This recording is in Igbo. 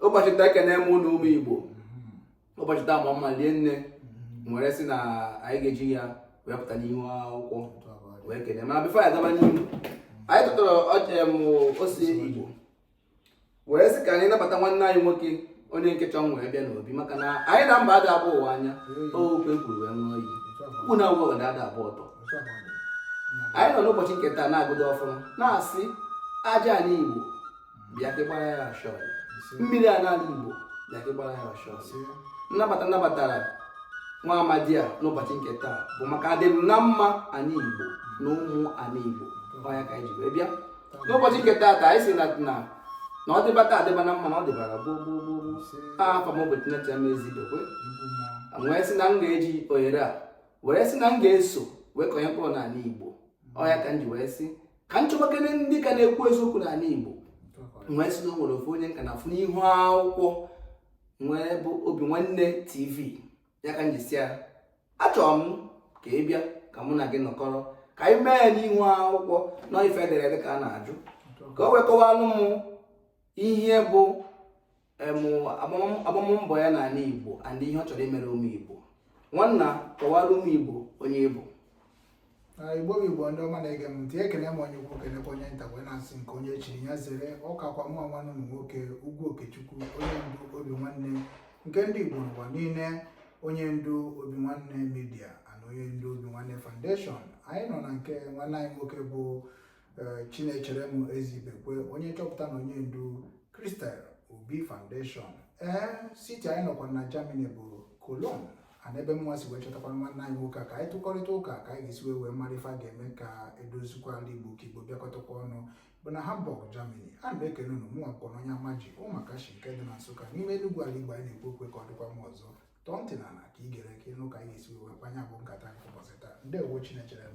ụbọchị taa ekene m unu ụmụ igbo ụbọchị taa ma mma lie nne m were sị na anyị ga-eji ya wee pụta n'ihu akwụkwọ wee kene mana bifo ya gaba n'ihu anyị tụtara ọjem ose igbo wee sị ka anyị nabata nwanne anyị nwoke onye nke chọọ wee bịa n'obi maka na anyị na mba ada abụọ ụwa anya okwu ekwuru wee ṅụọ iyi ukwu na agwọ ga ada abụọ ọtọ anyị nọ n'ụbọchị nke taa na-agọdo ọfọ ma na-asị aja anị igbo bịa ka gbara ya ashọ mmiri a n'anị igbo bịa ka gbara ya ashọ nnabata nnabatara nwa amadi a n'ụbọchị nke taa bụ maka adịm na mma anị igbo na ụmụ anị igbo ọ ya ka anyị ji wee bịa n'ụbọchị nke taa anyị si na na na ọ dịba taa dịba na mma na ọ dịbara gboo gboo gboo gboo a afa m bụ chinecherem ezidokwe wee sị na m ga-eji ohere a were sị na m ga-eso wee kọnye mkpụrụ n'anị igbo ọ ya ka m ji wee sị ka m chọbakene ndị ka na-ekwu eziokwu n'anị Igbo wee sị na o nwere ofu onye m ka na-afụ n'ihu akwụkwọ wee bụ Obinwanne TV ya ka m ji sị ya achọrọ m ka ị bịa ka mụ na gị nọkọrọ ka anyị mee ya n'ihu akwụkwọ na ife edere ede ka a na-ajụ ka o wee kọwalụ m ihe bụ agbammbọ ya n'anị Igbo and ihe ọ chọrọ imere ụmụ Igbo nwanna kọwara ụmụ Igbo onye ị bụ igbo bụ igbo ndị ọma na-ege m ntị ekene m onye ukwu kenekwa onye nta wee na-asị nke onye chiri ya zere ọ kakwa mụ nwanne unu nwoke Ugwu Okechukwu onye ndu Obinwanne nke ndị igbo n'ụwa niile onye ndu Obinwanne media and onye ndu Obinwanne foundation anyị nọ na nke nwanne anyị nwoke bụ Eh, Chinecherem Ezibekwe onye nchọpụta na onye ndu Crystal Obi Foundation ee eh, city anyị nọkwa na Germany bụ Cologne and ebe mụwa si wee chọtakwa nwanne anyị nwoke ka anyị tụkọrịta ụka ka anyị ga-esi wee wee mara ife a ga-eme ka e dozikwa ala Igbo ka Igbo bịakọtakwa ọnụ bụ na Hamburg Germany a na-ekele unu mụnwa bụkwanụ onye Amaji Ụmụakashi nke dị na Nsụka n'ime Enugu ala Igbo anyị na-ekwu okwu ya ka ọ dịkwa mma ọzọ tọọ ntị n'ala ka ị gere ka ị nụ ka anyị ga-esi wee kpaa nya bụ nkata nke ụbọchị taa ndewo Chinecherem